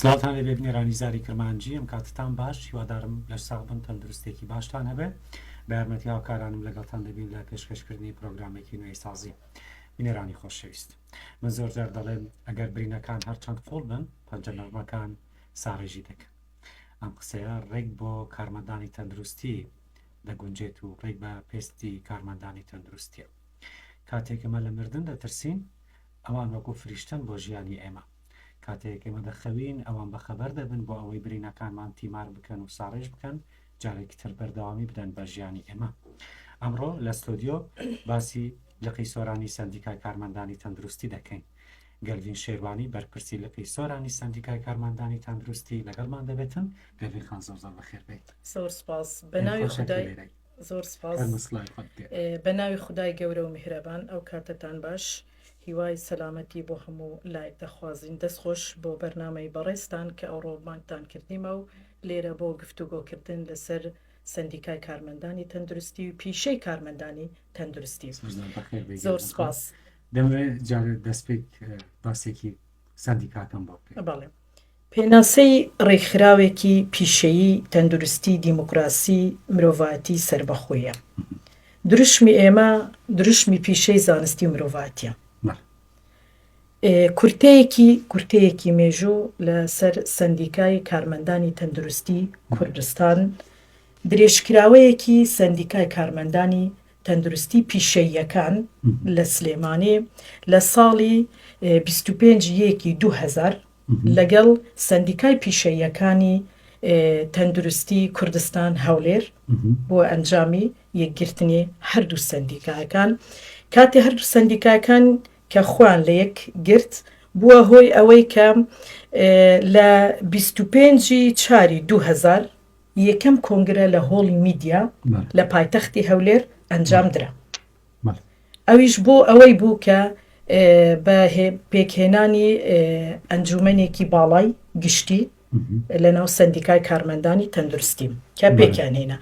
سڵاوتان لێبێ بنێرانی زاری کرمانجی ئەم کاتتان باش هیوادارم لەش ساغ بن تەندروستێکی باشتان هەبێ بە یارمەتی هاوکارانم لەگەڵتان دەبین لە پێشکەشکردنی پرۆگرامێکی نوێی سازی بنێرانی خۆشەویست من زۆر جار دەڵێم ئەگەر برینەکان هەرچەند قوڵ بن پەنجە نەرمەکان ساڕێژی دەکەن ئەم قسەیە ڕێک بۆ کارمەندانی تەندروستی دەگونجێت و ڕێک بە پێستی کارمەندانی تەندروستیە کاتێک ئێمە لە مردن دەترسین، ئەوان وەکو فریشتەن بۆ ژیانی ئێمە. کاتێک ئێمە دەخەوین، ئەوان بەخەبەر دەبن بۆ ئەوەی برینەکانمان تیمار بکەن و ساڕێژ بکەن، جارێکی تر بەردەوامی بدەن بە ژیانی ئێمە. ئەمڕۆ لە ستۆدیۆ باسی لقی سۆرانی سەندیکای کارمەندانی تەندروستی دەکەین. گەلڤین شێروانی بەرپرسی لقی سۆرانی سەندیکای کارمەندانی تەندروستی لەگەڵمان دەبێتن. گەلڤین خان زۆر زۆر بەخێر بێیت. زۆر سوپاس. بە ناوی خودای. زۆر سپاس بە ناوی خودای گەورە و میهرەبان ئەو کاتەتان باش هیوای سەلامەتی بۆ هەموو لایک دەخوازین دەست خۆش بۆ بەرنامەی بەڕێزتان کە ئەو ڕۆبمانتان کردیمە و لێرە بۆ گفت و گۆکردن لەسەر سندیکای کارمەندانی تەندروستی و پیشەی کارمەندانی تەندروستی زۆر سپاس دەمەوێت جارێت دەستپێک باسێکی سندیکاکەم بۆ بکە بەڵێ پێناسەی ڕێکخراوێکی پیشەیی تەندروستی دیموکراسی مرۆڤایەتی سەربەخۆیە. دروشمی ئێمە دروشمی پیشەی زانستی مرۆڤاتیە. کورتەیەکی کورتەیەکی مێژوو لەسەر سەندیکای کارمەندانی تەندروستی کوردستان درێژکراوەیەکی سەندیکای کارمەندانی تەندروستی پیشەییەکان لە سلێمانی لە ساڵی بیست و پێنج یەکی دوو هەزار لەگەڵ سەندیکای پیشەییەکانی تەندروستی کوردستان هەولێر بۆ ئەنجامی یەکگرتنی هەردوو سەندیکایەکان کاتی هەردوو سەندیکایەکان کە خوان لە یەک گرت بووە هۆی ئەوەی کە لە بیست و پێنجی چاری دوو هەزار یەکەم کۆنگرە لە هۆڵی میدیا لە پایتەختی هەولێر ئەنجام درا. ئەویش بۆ ئەوەی بوو کە بە پێکهێنانی ئەنجوومەنێکی باڵای گشتی لەناو سەندیکای کارمەندانی تەندروستی کە پێکیان هێنا.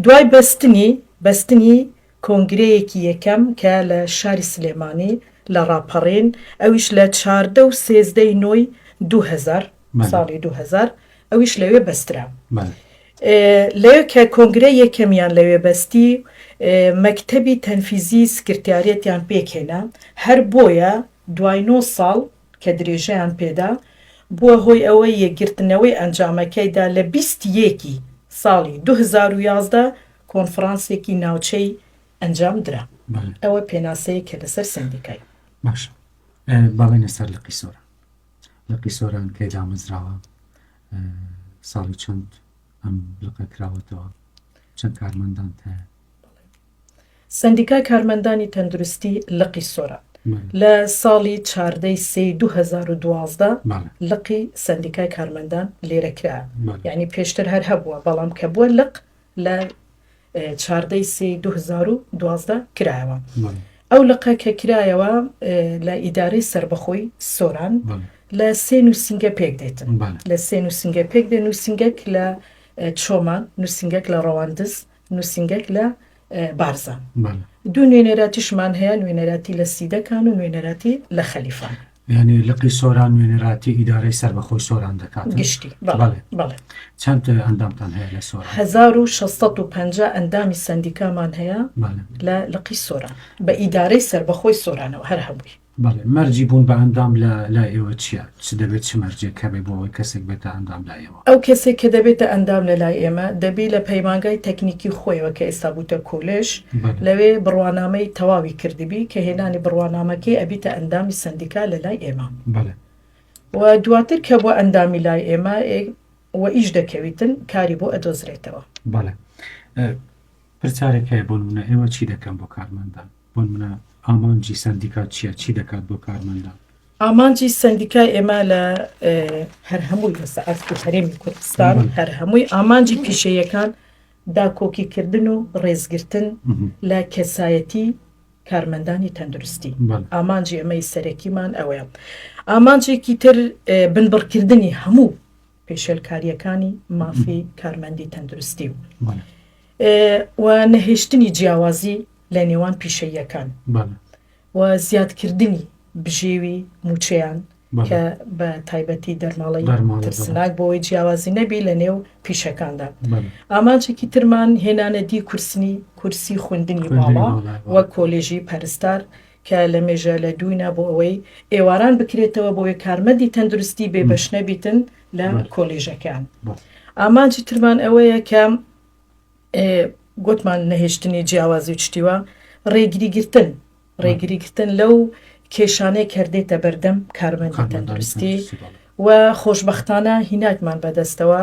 دوای بەستنی بەستنی کۆنگرەیەکی یەکەم کە لە شاری سلێمانی لە ڕاپەڕین ئەویش لە چاردە و سێزدە ی نۆی دوو هەزار ساڵی دوو هەزار ئەویش لەوێ بەسترا لەوێ کە کۆنگرەی یەکەمیان لەوێ بەستی مەکتەبی تەنفیزی سکرتیارەتیان پێکهێنا هەر بۆیە دوای نۆ ساڵ کە درێژەیان پێدا، بووە هۆی ئەوەی یەکگرتنەوەی ئەنجامەکەیدا لە بیست ی یەکی ساڵی دوو هەزار و یازدە کۆنفڕانسێکی ناوچەی ئەنجام درا. ئەوە پێناسەیەکە لەسەر سەندیکای. باشە با بێینە سەر لقی سۆران. لقی سۆران کەی دامەزراوە؟ ساڵی چەند ئەم لقە کراوەتەوە؟ چەند کارمەندانت هەیە؟ سەندیکای کارمەندانی تەندروستی لقی سۆران لە ساڵی چاردە ی سێی دوو هەزار و دوازدە لقی سەندیکای کارمەندان لێرە کرا یانی پێشتر هەر هەبووە بەڵام کە بووە لق لە چاردە ی سێی دوو هەزار و دوازدە کرایەوە ئەو لقە کە کرایەوە لە ئیدارەی سربەخۆی سۆران لە سێ نووسنگە پێک دێتن لە سێ نووسنگە پێک دێن نووسنگەک لە چۆمان نووسنگەک لە ڕەواندز نوسینگەک لە بارزان دوو نوێنەراتیشمان هەیە نوێنەراتی لە سیدەکان و نوێنەراتی لە خەلیفان یعنی لقی سۆران نوێنەراتی ئیدارەی سەر بەخۆی سۆران دەکات گشتی چەند ئەندامتان هەیە لە سۆران 1650 ئەندامی سندیکامان هەیە لە لقی سۆران بە ئیدارەی سەر بەخۆی سۆرانەوە هەر هەبووی بەڵێ، مەرجی بوون بە ئەندام لە لای ئێوە چییە؟ چ دەبێت چ مەرجێک هەبێت بۆ ئەوەی کەسێک بێتە ئەندام لای ئێوە؟ ئەو کەسەی کە دەبێتە ئەندام لە لای ئێمە، دەبی لە پەیمانگای تەکنیکی خۆیەوە کە ئێستا بووتە کۆلێژ، بەڵێ. لەوێ بڕوانامەی تەواوی کردبی، کە هێنانی بڕوانامەکەی ئەبیتە ئەندامی سەندیکا لە لای ئێمە. بەڵێ. و دواتر کە بووە ئەندامی لای ئێمە ئێ وە ئیش دەکەویتن، کاری بۆ ئەدۆزرێتەوە. بەڵێ. ئە پرسیارێک هەیە، بۆ نموونە ئێوە چی دەکەن بۆ کارمەندان؟ بۆ نمونە ئامانجی سەندیکات چیە؟ چی دەکات بۆ کارمەندان؟ ئامانجی سەندیکای ئێمە لە هەر هەمووی لەسە ئاستی هەرێمی کوردستان هەر هەمووی ئامانجی پیشەیەکان داکۆکیکردن و ڕێزگرتن لە کەسایەتی کارمەندانی تەندروستی ئامانجی ئەمەی سەرەکیمان ئەوەیە ئامانجێکی تر بنبڕکردنی هەموو پێشێلکارییەکانی مافی کارمەندی تەندروستی و نەهێشتنی جیاوازی لە نێوان پیشەییەکان و زیادکردنی بژێوی مووچەیان کە بە تایبەتی دەرماڵەی ترسناک بۆی جیاوازی نەبی لە نێو پیشەکاندا ئامانجێکی ترمان هێنانەدی کورسنی کورسی خوندنی باڵا وە کۆلێژی پەرستار کە لە مێژە لە دووینا بۆ ئەوەی ئێواران بکرێتەوە بۆیە کارمەندی تەندروستی بێ بەش نەبیتن لە کۆلیژەکان ئامانجی ترمان ئەوەیە کە گوتمان نەهێشتنی جیاوازی و شتیوە ڕێگری گرتن ڕێگری گرتن لەو کێشانەی کردێتە بەردەم کارمەندی تەندروستی و خۆشببختانە هیناکمان بەدەستەوە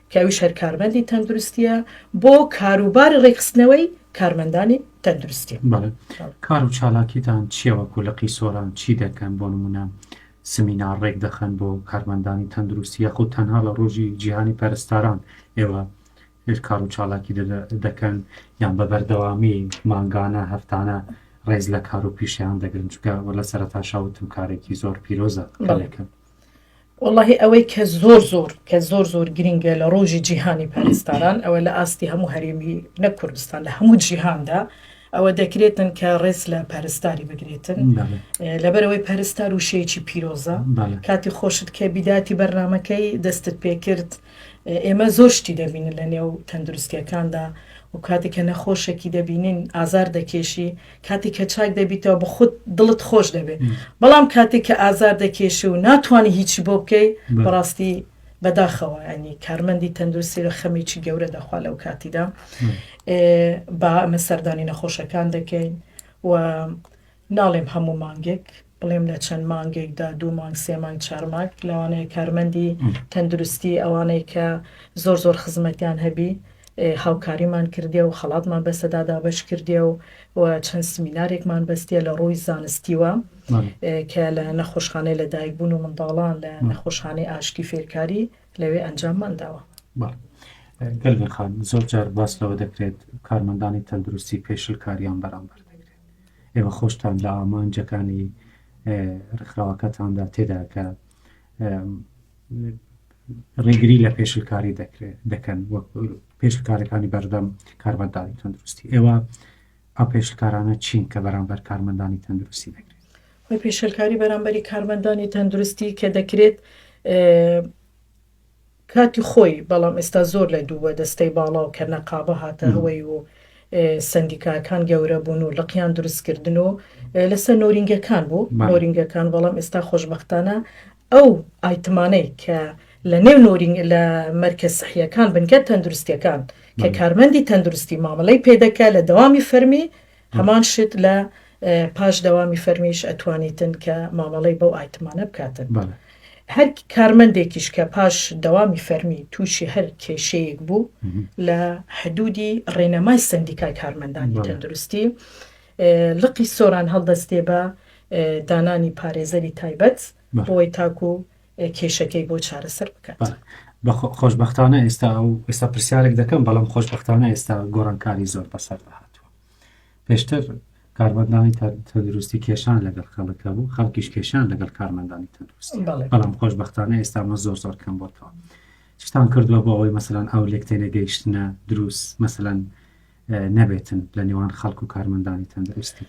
کە ئەویش هەر کارمەندی تەندروستییە بۆ کاروباری ڕێکخستنەوەی کارمەندانی تەندروستی. بەڵێ. کار و چالاکیتان چییە وەکو لقی سۆران؟ چی دەکەن؟ بۆ نموونە سمینار ڕێکدەخەن بۆ کارمەندانی تەندروستی یاخود تەنها لە ڕۆژی جیهانی پەرستاران ئێوە کار و چالاکی دەکەن یان بە بەردەوامی مانگانە هەفتانە ڕێز لە کار و پیشیان دەگرن چکە وە لە سەرتاشاوتم کارێکی زۆر پیرۆزە بەڵێکە وەڵاهی ئەوەی کە زۆر زۆر کە زۆر زۆر گرنگە لە ڕۆژی جیهانی پەرستاران ئەوە لە ئاستی هەموو هەرێمی نە کوردستان لە هەموو جیهاندا ئەوە دەکرێتن کە ڕێز لە پەرستاری بگرێتن لەبەرەوەی پەرستار و شێکی پیرۆزە کاتی خۆشت کە بیداتی بەرنمەکەی دەستت پێکرد ئێمە زۆر شتی دەبینن لە نێو تەندروستیەکاندا و کاتێک کە نەخۆشێکی دەبینین ئازار دەکێشی کاتێک کە چاک دەبیتەوە بە خودت دڵت خۆش دەبێت بەڵام کاتێک کە ئازار دەکێشی و ناتوانانی هیچی بۆ بکەی بەڕاستی بەداخەوە ینی کارمەندی تەندروستی لە خەمێکی گەورە دەخوا لەو کاتیدا با ئەمە سەردانی نەخۆشەکان دەکەین و ناڵێم هەموو مانگێک، بڵێم لە چەند مانگێکدا، دوو مانگ، سێ مانگ، چار مانگ، لەوانەیە کارمەندی تەندروستی، ئەوانەی کە زۆر زۆر خزمەتیان هەبی، هاوکاریمان کردیە و خەڵاتمان بەسەدا دابەش کردیە و و چەند سمینارێکمان بەستیە لە ڕووی زانستیوە کە لە نەخۆشخانەی لەدایکبوون و منداڵان لە نەخۆشخانەی ئاشتی فێرکاری لەوێ ئەنجاممان داوە. گەلبێخان زۆر جار باس لەوە دەکرێت کارمەندانی تەندروستی پێشلکاریان بەرامبەر دەکرێت ئێوە خۆشتان لە ئامانجەکانی ڕێکخراوەکەتاندا تێدا کە ڕێگری لە پێشلکاری دەکرێت دەکەن وەک پێشلکارەکانی بەردەم کارمەندانی تەندروستی ئێوە ئەو پێشلکارانە چین کە بەرامبەر کارمەندانی تەندروستی دەکرێت خۆی پێشلکاری بەرامبەری کارمەندانی تەندروستی کە دەکرێت کاتی خۆی بەڵام ئێستا زۆر لە دوو دەستەی باڵا و کە نەقابە هاتە هەوەی و سەندیکاکان گەورە بوون و لقیان دروست کردن و لەسەر نۆرینگەکان بوو نۆرینگەکان بەڵام ئێستا خۆشببختانە ئەو ئایتمانەی کە لە نێو نۆرینگ لە مەرکە سحیەکان بنکە تەندروستیەکان کە کارمەندی تەندروستی مامەلەی پێدەکە لە دەوامی فەرمی هەمان شت لە پاش دەوامی فەرمیش ئەتوانیتن کە مامەڵەی بەو ئایتمانە بکاتن. هەر کارمەندێکیش کە پاش دەوامی فەرمی تووشی هەر کێشەیەک بوو لە حدودی ڕێنەمای سندیکای کارمەندانی تەندروستی لقی سۆران هەڵدەستێ بە دانانی پارێزەری تایبەت بۆی تاکو کێشەکەی بۆ چارەسەر بکات. بە خۆشبەختانە ئێستا ئەو ئێستا پرسیارێک دەکەم بەڵام خۆشبەختانە ئێستا گۆڕانکاری زۆر بەسەردا هاتووە پێشتر کارمەندانی تەندروستی کێشان لەگەڵ خەڵک هەبوو خەڵکیش کێشان لەگەڵ کارمەندانی تەندروستی بەڵام خۆشببختانە ئێستا مە زۆر زۆر کەم بۆتەوە چتان کردووە بۆ ئەوەی مەسەلاەن ئەو لێک تێنەگەیشتە دروست مەسەلاەن نەبێتن لە نێوان خەڵک و کارمەندانی تەندروستی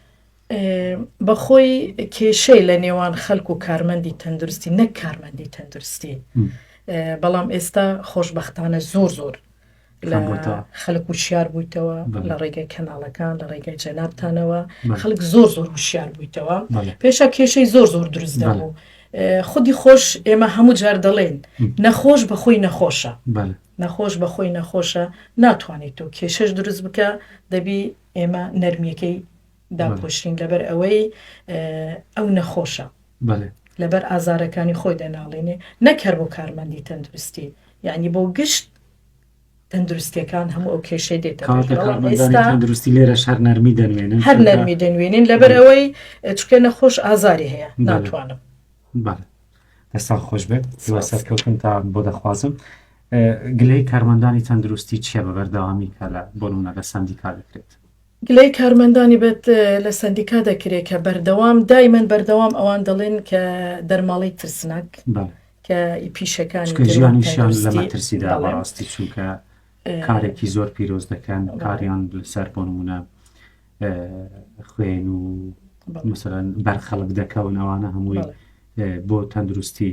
بەخۆی کێشەی لە نێوان خەلک و کارمەندی تەندروستی نەک کارمەندی تەندروستی بەڵام ئێستا خۆشببختانە زۆر زۆر خەلک و شار بوویتەوە لە ڕێگەی کەناڵەکان لە ڕێگەی جەنابتانەوە خەلک زۆر زۆر وشار بوویتەوە پێشە کێشەی زۆر زۆر دروست دەبوو خودی خۆش ئێمە هەموو جار دەڵێن نەخۆش بە خۆی نەخۆشە نەخۆش بە خۆی نەخۆشە ناتوانێت و کێشەش دروست بکە دەبی ئێمە نەرمیەکەی داپۆشین لەبەر ئەوەی ئەو نەخۆشە لەبەر ئازارەکانی خۆی دەناڵێنێ نەک هەر بۆ کارمەندی تەندروستی یعنی بۆ گشت تەندروستیەکان هەموو ئەو کێشەی دێتەندروستی لێرە شار نەرمی دەنوێنن هەر نەرمی دەنوێنین لەبەر ئەوەی چکە نەخۆش ئازاری هەیە ناتوانم دەستان خۆش بێت زیوا سەرکەوتن تا بۆ دەخوازم گلەی کارمەندانی تەندروستی چیە بە بەردەوامی کە لە بۆنە لە سندیکا دەکرێت گلەی کارمەندانی بەت لە سەندیکا دەکرێ کە بەردەوام دایمەن بەردەوام ئەوان دەڵێن کە دەرماڵەی ترسناک کە ئی پیشەکانی ژیانی شان لە مەترسیدا بەڕاستی چونکە کارێکی زۆر پیرۆز دەکەن کاریان سەر بۆ نمونە خوێن و مثلەن بەرخەڵک دەکەون ئەوانە هەمووی بۆ تەندروستی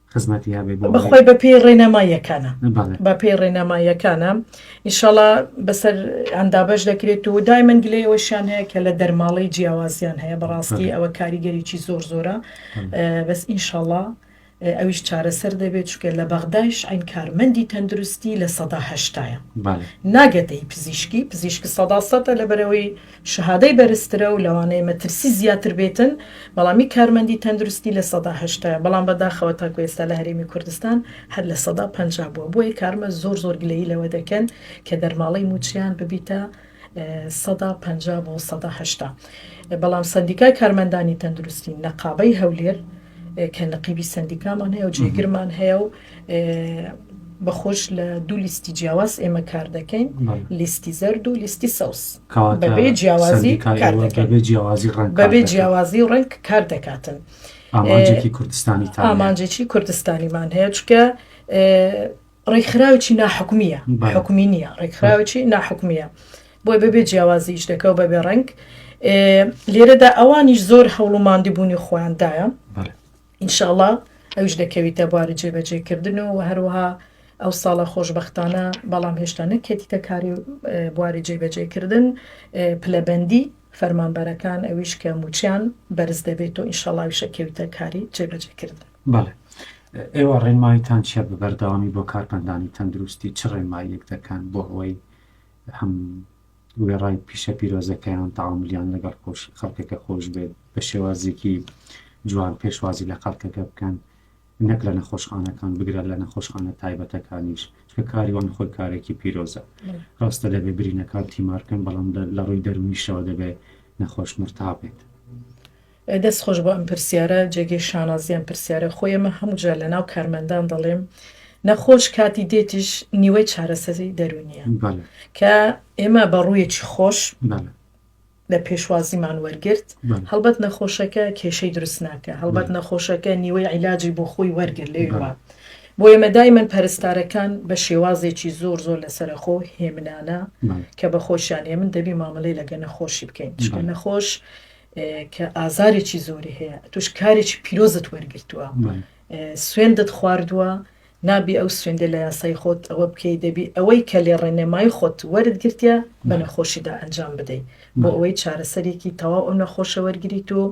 خزمەتی هەبێ بۆ ئەوەی. بەخوای بەپێی ڕێنەماییەکانە. بەڵێ. بەپێی ڕێنەماییەکانە ئینشاڵا بەسەر یان دابەش دەکرێت و دایمەن گلەی ئەوەشیان هەیە کە لە دەرماڵەی جیاوازیان هەیە بەڕاستی بەڵێ. ئەوە کاریگەریی زۆر زۆرە بەڵێ. بەس ئینشاڵا ئەویش چارەسەر دەبێت چونکە لە بەغدایش عەین کارمەندی تەندروستی لە سەدا هەشتایە بەڵێ. ناگەتە هی پزیشکی پزیشک سەدا سەدە لەبەرئەوەی شەهادەی بەرزترە و لەوانەیە مەترسی زیاتر بێتن، بەڵامی کارمەندی تەندروستی لە سەدا هەشتایە، بەڵام بەداخەوە تاکو ئێستا لە هەرێمی کوردستان هەر لە سەدا پەنجا بووە، بۆیە کارمە زۆر زۆر گلەیی لەوە دەکەن کە دەرماڵەی مووچەیان ببیتە سەدا پەنجا بۆ سەدا هەشتا، بەڵام سەندیکای کارمەندانی تەندروستی نەقابەی هەولێر، کە نەقیبی سەندیکامان هەیە و جێگرمان هەیە و بەخۆش لە دوو لیستی جیاواز ئێمە کار دەکەین لیستی زەرد و لیستی سەوز بەبێ جیاوازی بەبێ جیاوازی ڕنگ بەبێ جیاوازی ڕنگ کار دەکاتن ئامانجێکی کوردستانی ئامانجێکی کوردستانیمان هەیە چکە ڕێکخراوێکی ناحکومییە حکومی نییە ڕێکخراوێکی ناحکومییە بۆی بەبێ جیاوازی ئیش دەکە و بەبێ ڕنگ لێرەدا ئەوانیش زۆر هەوڵ و ماندیبوونی خۆیاندایە ئینشاءڵا ئەوش دەکەویتە بواری جێبەجێکردن و هەروەها ئەو ساڵە خۆشببختانە بەڵام هێشتا نەکێتیتە کاری بواری جێبەجێکردن پلەبەندی فەرمانبەرەکان ئەویش کە موچیان بەرز دەبێت و ئینشاڵاویشە کەویتە کاری جێبەجێکردن بەڵێ ئێوە ڕێنمایتان چیە بە بەردەوامی بۆ کارپندانی تەندروستی چ ڕێنماییەک دەکەن بۆ ئەوەی هەم وێڕای پیشە پیرۆزەکەیان تاعاملیان لەگەڵ خۆش خەڵکەکە خۆش بێت بە شێوازێکی جوان پێشوازی لە خەڵکەکە بکەن نەک لە نەخۆشخانەکان بگرە لە نەخۆشخانە تایبەتەکانیش چکە کاریوان خۆی کارێکی پیرۆزە ڕاستە دەبێ برینەکان تیمارکەن بەڵام لە ڕووی دەرمیشەوە دەبێت نەخۆش مرتابێت. دەست خۆش بۆ ئەم پرسیارە جێگەی شانازی ئەم پرسیارە خۆی ئەمە هەموو جار لەناو کارمەندان دەڵێم نەخۆش کاتی دێتیش نیوەی چارەسەزی دەرونیە کە ئێمە بە ڕوویەکی خۆش لە پێشوازیمان وەرگرت هەڵبەت نەخۆشەکە کێشەی دروست ناکە هەڵبەت نەخۆشەکە نیوەی عیلاجی بۆ خۆی وەرگر لێوە بۆ ئێمە دایمەن پەرستارەکان بە شێوازێکی زۆر زۆر لەسەرخۆ هێمنانە کە بە خۆشیان هێمن دەبی مامەلەی لەگە نەخۆشی بکەین چکە نەخۆش کە ئازارێکی زۆری هەیە توش کارێکی پیرۆزت وەرگتووە سوێندت خواردووە نابی ئەو سوێندە لە یاسای خۆت ئەوە بکەی دەبی ئەوەی کە لێ ڕێنێمای خۆت وەرت گرتە بە نەخۆشیدا ئەنجام بدەیت بۆ ئەوەی چارەسەرێکی تەواو ئەو نەخۆشە وەرگیت و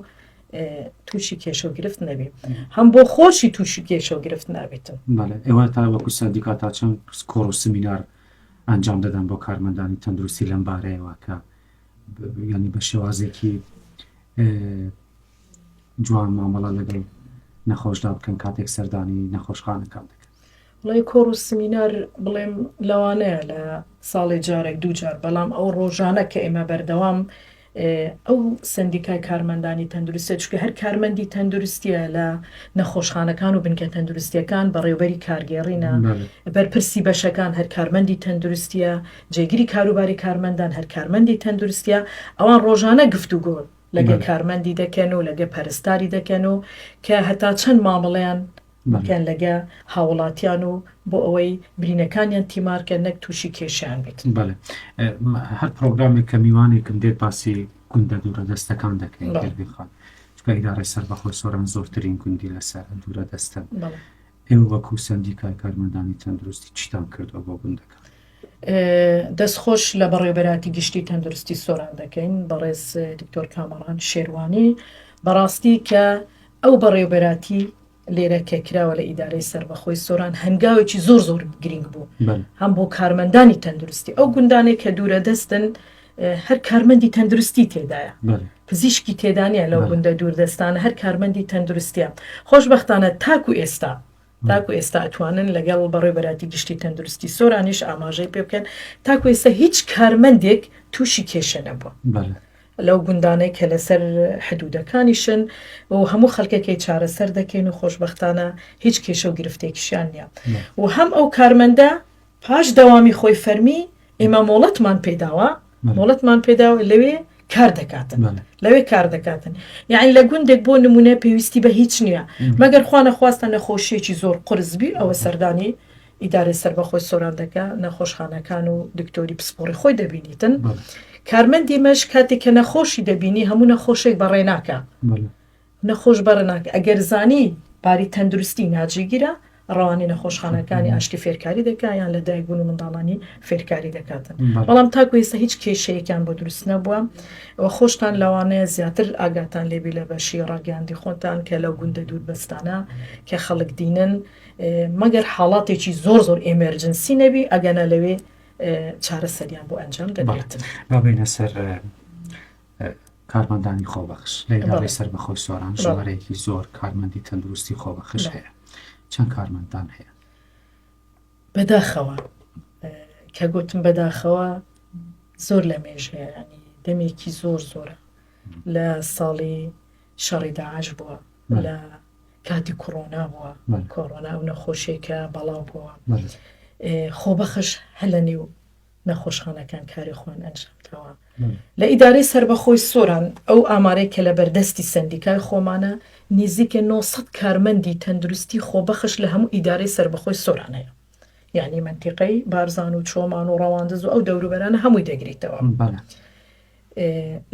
تووشی کێشە و گرفت نەبی هەم بۆ خۆشی تووشی کێشە و گرفت نابێتن ئێوە تا وەکو سندیکا تا چەند کۆڕ و سمینار ئەنجام دەدەن بۆ کارمەندانی تەندروستی لەم بارەیەوە کە یانی بە شێوازێکی جوان مامەڵە لەگەڵ نەخۆشدا بکەن کاتێک سەردانی نەخۆشخانەکان دەکەن بڵێ کۆڕ و سمینار بڵێم لەوانەیە لە ساڵی جارێک دوو جار بەڵام ئەو ڕۆژانە کە ئێمە بەردەوام ئەو سندیکای کارمەندانی تەندروستە چکە هەر کارمەندی تەندروستیە لە نەخۆشخانەکان و بنکە تەندروستیەکان بەڕێوبەری کارگێڕینە بەرپرسی بەشەکان هەر کارمەندی تەندروستیە جێگری کاروباری کارمەندان هەر کارمەندی تەندروستییە، ئەوان ڕۆژانە گفتوگۆ لەگەڵ کارمەندی دەکەن و لەگەڵ پەرستاری دەکەن و کە هەتا چەند مامەڵەیان بکەن لەگەڵ هاووڵاتیان و بۆ ئەوەی برینەکانیان تیمار کەن نەک تووشی کێشەیان بێت. بەڵێ هەر پرۆگرامێک کە میوانێکم دێت باسی گوندە دوورە دەستەکان دەکەین گەر بخوات چونکە ئیدارەی سەربەخۆی سۆران زۆرترین گوندی لەسەر دوورە دەستە. ئێوە وەکو سەندیکای کارمەندانی تەندروستی چیتان کردوە بۆ گوندەکان؟ دەست خۆش لە بەڕێوبەراتی گشتی تەندروستی سۆران دەکەین بەڕێز دکتۆر کامەڕان شێروانی بەڕاستی کە ئەو بەڕێوبەراتی لێرە کە کراوە لە ئیدارەی سربەخۆی سۆران هەنگاوێکی زۆر زۆر گرنگ بوو هەم بۆ کارمەندانی تەندروستی ئەو گوندانێک کە دوورە دەستن و هەر کارمەندی تەندروستی تێدایە پزیشکی تێدانە لەو گوندە دووردەستانە هەر کارمەندی تەندروستە خۆشببختانە تاکو ئێستا تاکو ئێستا ئەتوانن لەگەڵ بەڕێ بەراتی گشتی تەندروستی سۆرانیش ئاماژەی پێ بکەن تاکو ئێستا هیچ کارمەندێک تووشی کێشە نەبووە. لەو گوندانەی کە لەسەر حدودەکانیشن و هەموو خەڵکەکەی چارەسەر دەکەین و خۆشببختانە هیچ کێشە و گرفتێکیشیان نیە و هەم ئەو کارمەندە پاش دەوامی خۆی فەرمی، ئێمە مۆڵەتمان پێداوە، مۆڵەتمان پێداوە لەوێ کار دەکاتن، لەوێ کار دەکاتن. یانی لە گوندێک بۆ نموونە پێویستی بە هیچ نییە، مەگەر خوا نەخواستە نەخۆشییەکی زۆر قورس بی، ئەوە سەردانی ئیدارەی سەربەخۆی سۆران دەکا، نەخۆشخانەکان و دکتۆری پسپۆڕی خۆی دەبینیتن. کارمەندی مەش کاتێک کە نەخۆشی دەبینی، هەموو نەخۆشێک بەڕێ ناکا. نەخۆش بە رناک ئەگەر زانی باری تەندروستی ناجیگیرە رەوانەی نەخۆشخانەکانی ئاشتی فێرکاری دەکا یان لە دایک بوون و منداڵانی فێرکاری دەکاتن بەڵام تاکو ئێستا هیچ کێشەیەکیان بۆ دروست نەبووە و خۆشتان لەوانەیە زیاتر ئاگاتان لێبی لە بەشی راگەیاندی خۆتان کە لەو گوندە دوور بەستانە کە خەڵک دینن مەگەر حاڵاتێکی زۆر زۆر ئێمێرجنسی نەبی ئەگەنە لەوێ چارەسەریان بۆ ئەنجام دەبێت بابینە سەر کارمەندانی خۆبەخش لە ئیدارەی سەربەخۆی سۆران ژمارەیەکی زۆر کارمەندی تەندروستی خۆبەخش هەیە چەند کارمەندان هەیە بەداخەوە کە گوتم بەداخەوە زۆر لە مێژەیەنی دەمێکی زۆر زۆرە لە ساڵی شەڕی داعش بووە لە کاتی کۆرۆنا بووە کۆرۆنا و نەخۆشیێکە بەڵاو بووە خۆبەخش هەلە نێو نەخۆشخانەکان کاری خۆیان ئەنجام داوە. لە ئیدارەی سەربەخۆی سۆران ئەو ئامارەی کە لە بەردەستی سەندیکای خۆمانە نیزیکەی نۆ سەد کارمەندی تەندروستی خۆبەخش لە هەموو ئیدارەی سەربەخۆی سۆران هەیە یانی مەنتیقەی بارزان و چۆمان و ڕەواندز و ئەو دەوروبەرانە هەمووی دەگریتەوە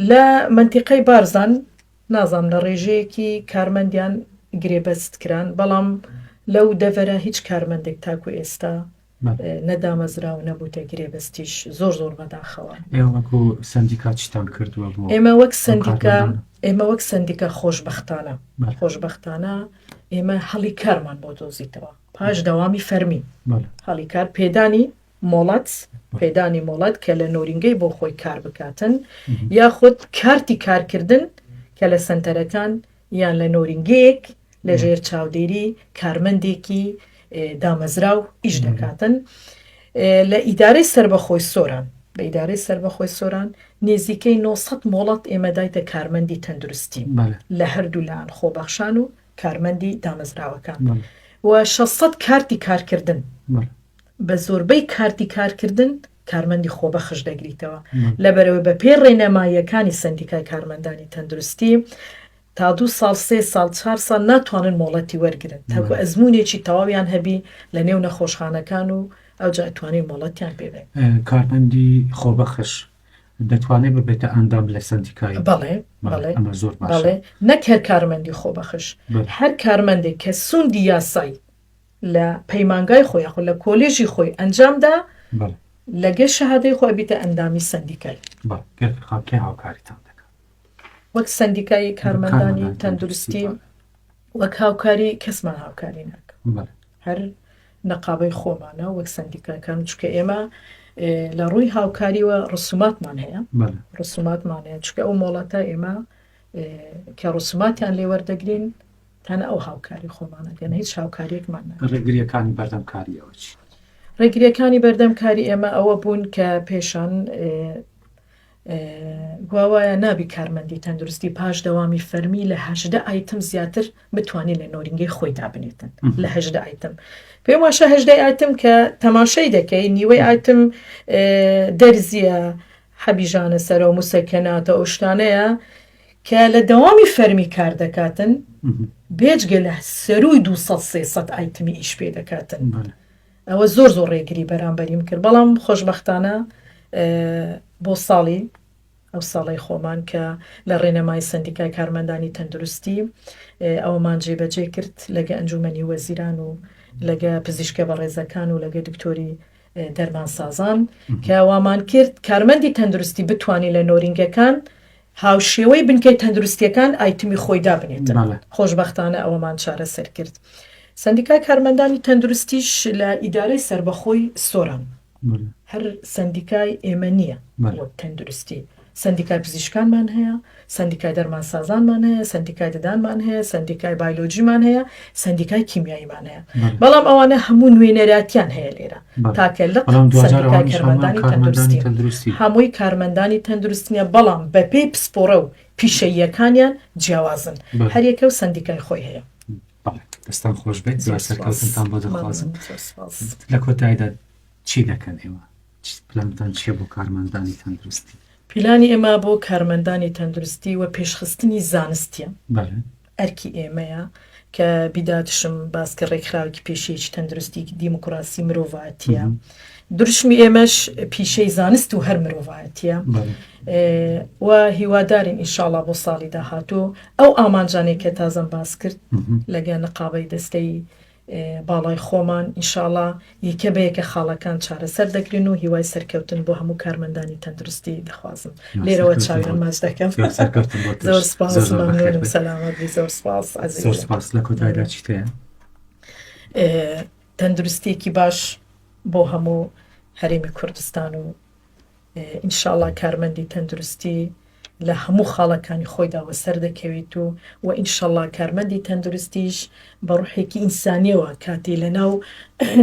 لە مەنتیقەی بارزان نازام لە ڕێژەیەکی کارمەندیان گرێبەست کران بەڵام لەو دەڤەرە هیچ کارمەندێک تاکو ئێستا نەدامەزراو نەبووتە گرێبەستیش زۆر زۆر بەداخەوە. ئێوە وەک سەندیکا چیتان کردووە بۆ ئێمە وەک سەندیکا ئێمە وەک سەندیکا خۆشبەختانە خۆشبەختانە ئێمە هەڵی کارمان بۆ دۆزیتەوە پاش دەوامی فەرمی هەڵی کار پێدانی مۆڵەت پێدانی مۆڵەت کە لە نۆرینگەی بۆ خۆی کار بکاتن یاخود کارتی کارکردن کە لە سنتەرەکان یان لە نۆرینگەیەک لە ژێر چاودێری کارمەندێکی دامەزراو ئیش دەکاتن لە ئیدارەی سربەخۆی سۆران لە ئیدارەی سربەخۆی سۆران نێزیکەی 900 مۆڵەت ئێمە دایتە کارمەندی تەندروستی لە هەردوو لایەن خۆبەخشان و کارمەندی دامەزراوەکان و 600 کارتی کارکردن بە زۆربەی کارتی کارکردن کارمەندی خۆبەخش دەگریتەوە، لەبەرئەوەی بەپێی ڕێنماییەکانی سەندیکای کارمەندانی تەندروستی، تا دوو ساڵ، سێ ساڵ، چوار ساڵ ناتوانن مۆڵەتی وەرگرن، تاکو ئەزموونێکی تەواویان هەبی لەنێو نەخۆشخانەکان و ئەوجا توانین مۆڵەتیان پێ بدەین. کارمەندی خۆبەخش دەتوانێت ببێتە ئەندام لە سەندیکای؟ بەڵێ، بەڵێ، ئەمە زۆر باشە. بەڵێ، نەک هەر کارمەندی خۆبەخش، هەر کارمەندێک کە سوندی یاسای لە پەیمانگای خۆی یاخۆ لە کۆلیژی خۆی ئەنجامدا لەگەر شەهادەی خۆی بیتە ئەندامی سندیکای هاوکاریتان وەک سندیکای کارمەندانی تەندروستی وەک هاوکاری کەسمان هاوکاری ناکە هەر نەقابەی خۆمانە وەک سندیکاکان چکە ئێمە لە ڕووی هاوکاریوە ڕسوماتمان هەیە ڕسوماتمان هەیە چکە ئەو مۆڵەتە ئێمە کە ڕسوماتیان لێوەردەگرین تەنە ئەو هاوکاری خۆمان ئەگەنە هیچ هاوکاریەکمان نە ڕێگریەکانی بەردەم کاری ئەوە چی؟ ڕێگریەکانی بەردەم کاری ئێمە ئەوە بوون کە پێشان گواوایە نابی کارمەندی تەندروستی پاش دەوامی فەرمی لە هەشدە ئایتم زیاتر بتوانێت لە نۆرینگەی خۆی دابنێتن لە هەشدە ئایتم پێم واشە هەشدای ئایتم کە تەماشای دەکەی نیوەی ئایتم دەرزیە حەبیژانە سەرە و مسەکەناتە ئەو شتانەیە کە لە دەوامی فەرمی کار دەکاتن بێجگە لە سەرووی دوو سەد سێ سەد ئایتمی ئیش پێ دەکاتن ئەوە زۆر زۆر ڕێگری بەرامبەریم کرد بەڵام خۆشببختانە بۆ ساڵی ئەو ساڵی خۆمان کە لە ڕێنەمای سندیکای کارمەندانی تەندروستی ئەومان جێبەجێ کرد لەگە ئەنجومەنی وەزیران و لەگە پزیشکە بە ڕێزەکان و لەگە دکتۆری دەرمانسازان کە وامان کرد کارمەندی تەندروستی بتانی لە نۆرینگەکان هاوشێوەی بنکەی تەندروستییەکان ئایتمی خۆی دابنێت. خۆشبەختانە ئەوەمان چارەسەر کرد. سەندیکای کارمەندانی تەندروستیش لە ئیدارەی سەربەخۆی سۆران، هەر سەندیکای ئێمە نییە وەک تەندروستی، سەندیکای پزیشکانمان هەیە، سەندیکای دەرمانسازانمان هەیە، سەندیکای ددانمان هەیە، سەندیکای بایلۆجیمان هەیە، سەندیکای کیمیاییمان هەیە، بەڵام ئەوانە هەموو نوێنەراتیان هەیە لێرە، تاکە لق سەندیکای کارمەندانی تەندروستی، هەمووی کارمەندانی تەندروستنیە، بەڵام بەپێی پسپۆڕە و پیشەییەکانیان جیاوازن، هەریەکە و سەندیکای خۆی هەیە. دەستان خۆش بێت زۆر سەرکەوتنتان بۆ دەخوازم لە کۆتایدا چی دەکەن ئێوە پلانتان چیە بۆ کارمەندانی تەندروستی؟ پیلانی ئێمە بۆ کارمەندانی تەندروستی و پێشخستنی زانستیە ئەرکی ئێمەیە کە بیداتشم باسکە ڕێکخراوەکی پێشەیەکی تەندروستی دیموکراسی مرۆڤاتیە درشمی ئێمەش پیشەی زانست و هەر مرۆڤایەتە و هیوادارین ئینشاڵا بۆ ساڵی داهاتوو ئەو ئامانجانێک کە تازەم باس کرد لەگە نقابەی دەستەی باڵای خۆمان، ئینشاڵا یەکە بە یەکە خاڵەکان چارەسەر دەکرێن و هیوای سەرکەوتن بۆ هەموو کارمەندانی تەندروستی دەخوازم لێرەوە چاویان ماچ دەکەم زۆر سپاس مەمنونم سەلامەت بی زۆر سپاس ئەزیز زۆر سپاس لە کۆتایدا چیت هەیە؟ تەندروستیەکی باش بۆ هەموو هەرێمی کوردستان و ئینشاڵا کارمەندی تەندروستی لە هەموو خاڵەکانی خۆیدا وەسەر دەکەویت و و ئینشەڵا کارمەندی تەندروستیش بە ڕوحێکی ئینسانیەوە کاتی لەناو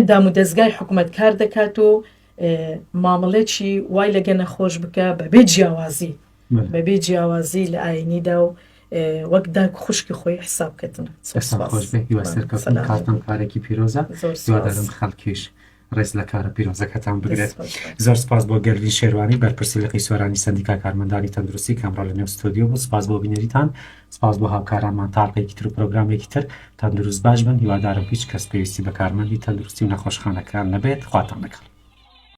دام و دەستگای حکوومەت کار دەکات و مامەڵێکی وای لەگە نەخۆش بکە بەبێ جیاوازی بەبێ جیاوازی لە ئاینیدا و وەک داک خوشکی خۆی حساب کردن سەرکەتن کارتم کارێکی پیرۆزە زۆردارم خەڵکیش ڕێز لە کارە پیرۆزەکەتان بگرێت. زۆر سپاس بۆ گەردین شێروانی بەرپرسی لقی سۆرانی سەندیکا کارمەندانی تەندروستی کە ئەمڕۆ لە نێو ستۆدیۆ بوو سپاس بۆ بینەریتان سپاس بۆ هاوکارانمان تاڵقێکی تر و پرۆگرامێکی تر تەندروست باش بن هیوادارم هیچ کەس پێویستی بە کارمەندی تەندروستی و نەخۆشخانەکان نەبێت خواتان لەگەڵ